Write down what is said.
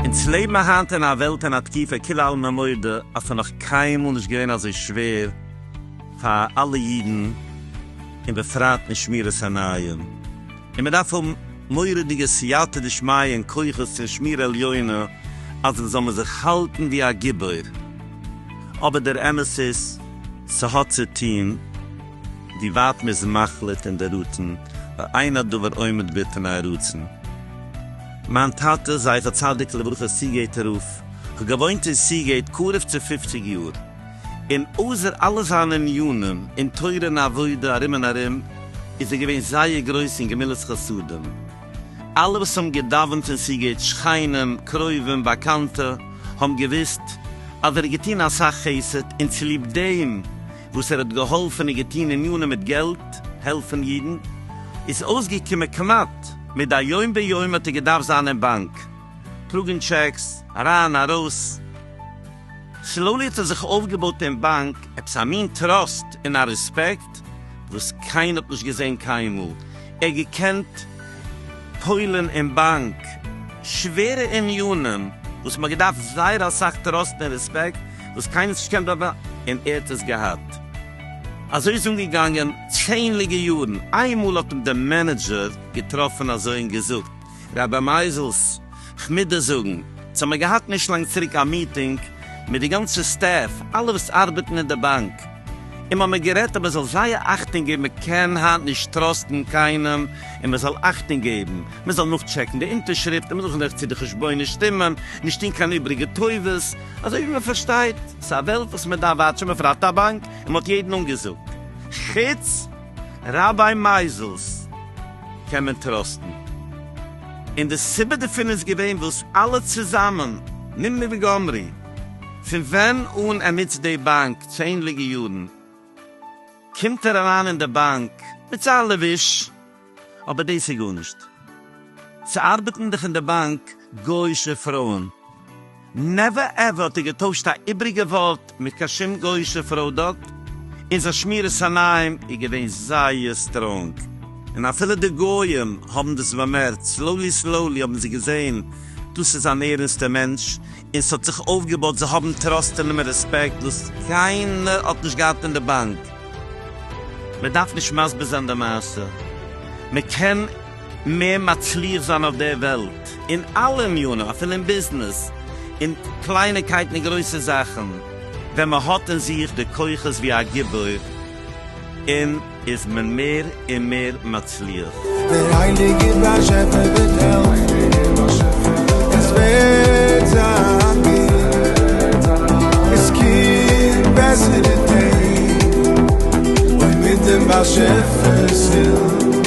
אונז לעבן היינט אין א וועלט אין א תקופה כולא עלמא מודי אז ס'איז נאך קיינמאל נישט געווען אזוי שווער פאר אלע אידן און בפרט אין שמירת עיניים. און מען דארף האבן מורא'דיגע סייעתא דשמיא און כוחות פון שמירה עליונה אז מען זאל מען זיך האלטן ווי א גיבור, אבער דער אמת איז ס'האט צו טוהן ווי ווייט מ'איז מחליט און דערראטן, ואין הדבר עומד בפני הרצון. מיין טאטע זכר צדיק לברכה סיגעיט רב, כ'האב געוואוינט אין סיגעיט קרוב צו פופציג יאר, און אויסער אלע זיינע ענינים אין תורה און עבודה ארום און ארום, איז ער געווען זייער גרויס אין גמילות חסדים. אלע וואס האבן געדאווענט פון סיגוט, שכנים, קרובים, באקאנטע, האבן געוואוסט אז ער האט געטון אסאך חסד, און צוליב דעם וואס ער האט געהאלפן און געטון ענינים מיט געלט, העלפן אידן, איז אויסגעקומען כמעט מדי יום ביומו האט ער געדארפט זיין אין באנק, טראגן טשעקס, אריין ארויס. סלאולי האט ער זיך אויפגעבויט אין באנק עפעס א מין טראסט און א רעספעקט וואס קיינער האט נישט געזען קיינמאל. ער האט געקענט פועל'ן אין באנק שווערע ענינים וואס מ'האט געדארפט זייער אסאך טראסט און רעספעקט וואס קיינער האט נישט געקענט דארט און ער האט עס געהאט. אזוי איז אנגעגאנגען צענדליגע יארן. איינמאל האט אים די מענעדזשער געטראפן אזוי און געזאגט רבי מייזעלס, כ'מוז דיר זאגן, אונז האמיר געהאט נישט לאנג צוריק א מיטינג מיט די גאנצע סטעף, אלע וואס ארבעטן אין די באנק, און מ'האמיר גערעדט אז מ'זאל זייער אכטונג געבן, מ'קען היינט נישט טראסטן קיינעם, און מ'זאל אכטונג געבן, מ'זאל נאכטשעקן די אונטערשריפט, און מ'זאל זען אויך צו די חשבונות שטימען, נישט טון קיין איבריגע טובות, אזוי ווי מ'פארשטייט, ס'איז א וועלט וואס מ'דארף וואטשן, בפרט א באנק, און מ'האט יעדן אנגעזאגט, חוץ. ראביי מייזעלס קען מען טראסטן, און די סיבה דערפון איז געווען וואס אלע צוזאמען, נמני וגמרי, פון ווען אן ער נוצט די באנק צענדליגע יארן, קומט ער אריין אין די באנק מיט זיין לבוש, אבער דאס איז גארנישט, ס'ארבעטן דאך אין די באנק גוי'שע פרויען. נעווער עווער האט ער געטוישט א איבריגע ווארט מיט קיין שום גויאישע פראדוקט, און זיין שמירת עיניים איז געווען זייער סטראנג, און אפילו די גוים האבן דאס באמערקט, סלאולי סלאולי האבן זיי געזען דאס איז אן ערענסטע מענטש, און ס'האט זיך אויפגעבויט, זיי האבן טראסט אין אים און רעספעקט וואס קיינער האט נישט געהאט אין די באנק. מען דארף נישט מסביר זיין די מעשה, מען קען. מער מצליח זיין אויף דער וועלט אין אלע ענינים, אפילו אין ביזנעס, אין קלייניקייטן און גרויסע זאכן, ווען מען האט אין זיך די כוחות ווי א גיבור, און איז מען מער און מער מצליח. דער הייליגער באשעפער וועט העלפן, עס וועט זיין גוט, עס קומט בעסערע טעג, אוי מיט דעם באשעפער'ס הילף.